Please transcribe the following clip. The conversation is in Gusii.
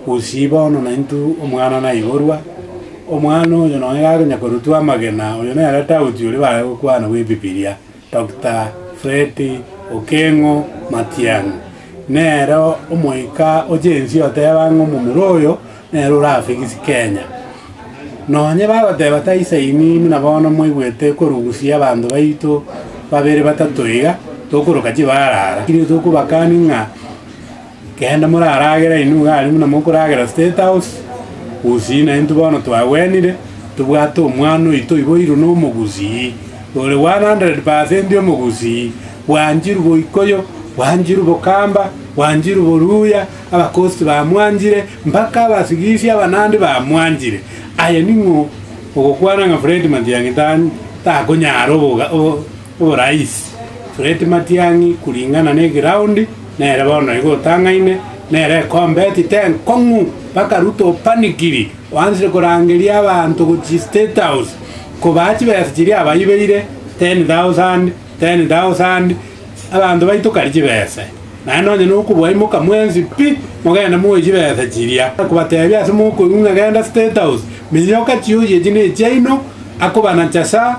Gose bono naintwe omwana naiborwa, omwana oyo nonya gakonyakorutwa amagena, oyo nere tauti oria bare gokwana bw'Ebibilia, Doctor Freddy Okengo Matiang'i. Nere omoika o Gen-Z oteba ng'a omomura oyo nere orafigisi Kenya. Nonya bagoteba taisaini buna bono mwaigwete korusia abanto baito babere batato iga, tokoroka chibara ara, tokobakani ng'a. Genda moraragere inwe iga aria buna mokoragera State House, gusii naintwe bono twagwenire, tobwate omwana oito oiboirwe nomogusii, ore 100 percent omogusii, bwanchirwe boikoyo, bwanchirwe bokamba, bwanchirwe boruya, abakosti bamwanchire, mpaka abasigisi abanandi bamwanchire. Aye ning'o ogokwana ng'a Fred Matiang'i ta- takonyara oboga- o- Orais, Fred Matiang'i kuringana ne eground nere bono igo otang'aine nere ekombe etite enkong'u mpaka Ruto opanikiri oansire korangeria abanto gochia state house kobaa chibesa chiria abaibeire 10,000 10,000 abanto baito kari chibese naye nonya nokobua imoka mwensi pi mogende moe chibesa chiria akobatebia ase mokoigwa ng'a genda state house meiyoka chioyi echi nechiaino akobanacha sa